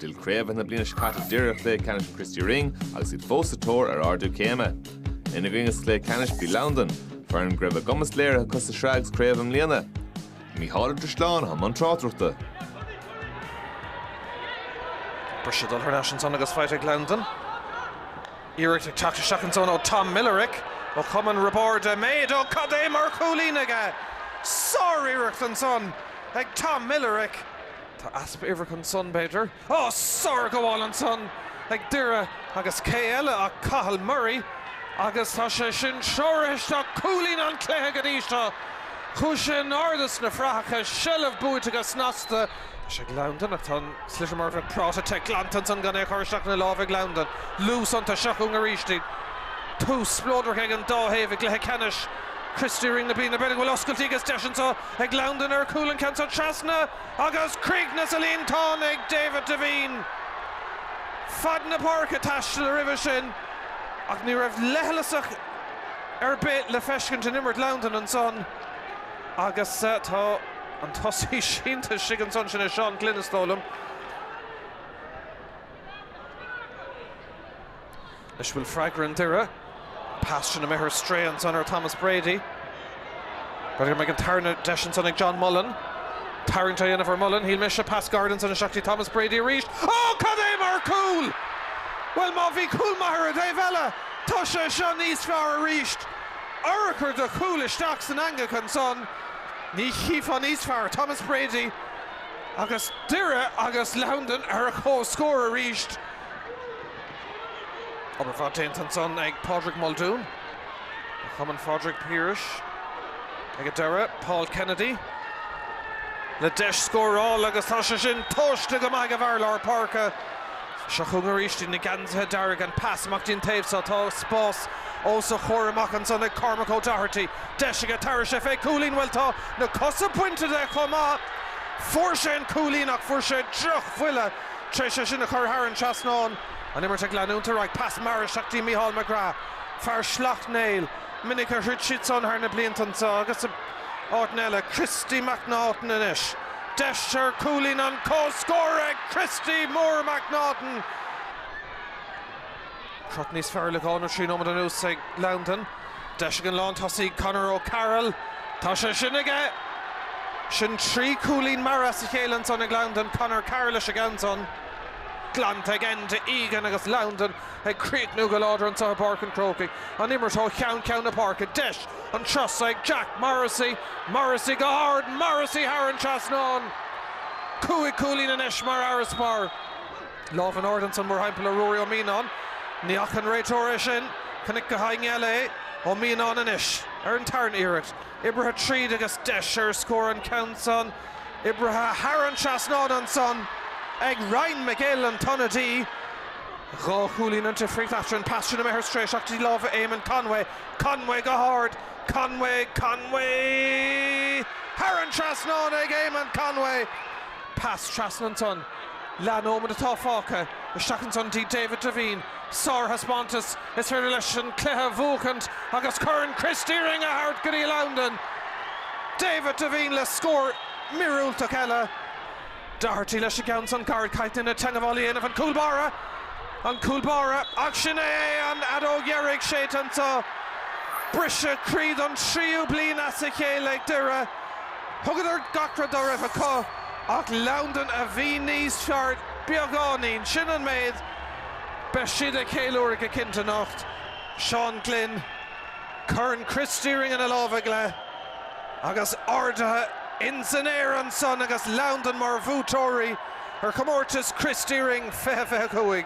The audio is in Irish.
D'fhill craobh na bliana seo caite deireadh i gcluiche ceannais an Christy Ring agus iad fós sa tóir ar ardú céime. Ina gcoinne sa chluiche ceannais bhí Londain, foireann go raibh a gcumas léirithe acu sa sraith agus craobh i mbliana. Mícheál Ó Drisleáin, i mbun tráchtaireachta. Briseadh dul thar n-ais ansan agus faighte ag Londain. Iarracht ag teacht isteach ansan ó Tom Millerick ó chumann Roibeaird Eiméid. Ó, cad é mar chúilín aige! Sáriarracht ansan ag Tom Millerick. Tá easpa uimhreach ansan, b'fhéidir. Ó, sárghabháil ansan ag Doire agus cé eile ach Cathal Murray agus tá sé sin treoraithe isteach, cúilín an chluiche go dtí seo. Chuaigh sé in airde sna fraitheacha, seilbh buaite go snasta. Tá sé ag Londain ach tá an sliotar mar a bheadh práta te glanta ansan gan é a chur isteach ina láimh ag Londain. Luas anois seo chugainn arís. Tús spleodrach ag an dá thaobh i gcluiche ceannais Christy Ring na bliana. B'fhéidir go bhfuil oscailtí agus deis anso ag Londain ar chúl, an ceann seo trasna agus críochnaithe sa líontán ag David Devine. Fad na páirce taistil roimhe sin ach ní raibh leithleasacht ar bith le feiscint in imirt Londain ansan agus tá. An tosaí sínte istigh ansan, sin é Seán Glynn, is dóigh liom. Anois, bhfuil freagra ag Doire? Pas imithe ar strae ansan ar Thomas Brady. B'fhéidir go mbeidh an tarna deis ansan ag John Mullin. Tarraingt á dhéanamh ar Mullin, shíl mise. Pas gairid ansan isteach go dtí Thomas Brady arís. Ó, cad é mar chúl! Bhuel, má bhí cúl maith ar an dtaobh eile, tá sé seo níos fearr arís. Urchar de chúl isteach san eangach ansan. Ní chífeá níos fearr Thomas Brady agus Doire agus Londain ar comhscór arís. Obair mhaith déanta ansan ag Pádraig Muldoon ó chumann Phádraig Phiarais ag Doire. Paul Kennedy le deis scóráil agus tá sé sin tomhaiste go maith ag an bhfear lár páirce. Seo chugainn arís iad na geansaithe dearga, an pas amach dtí'n taobh seo. Tá spás os a chomhair amach ansan ag Cormac O'Doherty. Deis aige tarraingt fé chúilín, bhuel tá na cosa bainte de chomh maith. Fuair sé an cúilín ach fuair sé droch bhuille tar éis é sin a chur thar an trasnán. An imirt ag leanúint ar aghaidh, pas mear isteach dtí Micheál McGrath, fear Shleacht Néill. Minic a throid siad san thar na blianta anseo agus in áiteanna eile. Christy McNaughton anois. Deis ar cúilín an comhscóir ag Christy mór McNaughton. Crot níos fearr le dhá nó trí nóiméad anuas ag Londain. Deis ag an lántosaí Conor O'Carroll. Tá sé sin aige! Sin trí chúilín mear as a chéile ansan ag Londain. Conor Carroll leis an gceann san. Glanta ag Enda Egan agus Londain ag críochnú go láidir anseo i bPáirc an Chrócaigh. An imirt ó cheann ceann na páirce. Deis an turas so ag Jack Morrissey. Morrissey go hard. Morrissey thar an trasnán. Cúig chúilín anois mar fharasbarr. Lámh in airde ansan, mórthimpeall ar Ruairí Ó Mianáin. Ní fhaca an réiteoir é sin. Chonaic gach éinne eile é. Ó Mianáin anois. Ar an tarna hiarracht. Oibrithe tríd agus deis ar scór an ceann san. Oibrithe thar an trasnán ansan ag Ryan McGill, an t-ionadaí. Dhá chúilín an difríocht eatarthu. An pas san imithe ar strae, isteach go dtí lámha Éamonn Conway. Conway go hard. Conway, Conway. Thar an trasnán ag Éamonn Conway. Pas trasna ansan. Leath nóiméad atá fágtha isteach ansan go dtí David Devine, sárthaispeántas, is féidir leis an cluiche a bhuachaint agus Corn Christy Ring a thabhairt go dtí Londain. David Devine le scór míorúilteach eile. Doherty leis an gceann san gairid, caitheann sé teangabháil a dhéanamh an cúl báire, an cúl báire ach sin é an fheadóg dheiridh séidte anso. Briseadh croí don tríú bliain as a chéile ag Doire. Thugadar gach rud dá raibh acu. Ach Londain a bhí níos fearr beagáinín, sin an méid. Beidh siad ag ceiliúradh go cinnte anocht. Seán Glynn, Corn Christy Ring ina lámh aige, agus ardaithe ins an aer ansan agus Londain mar bhuaiteoirí ar chomórtas Christy Ring 2025.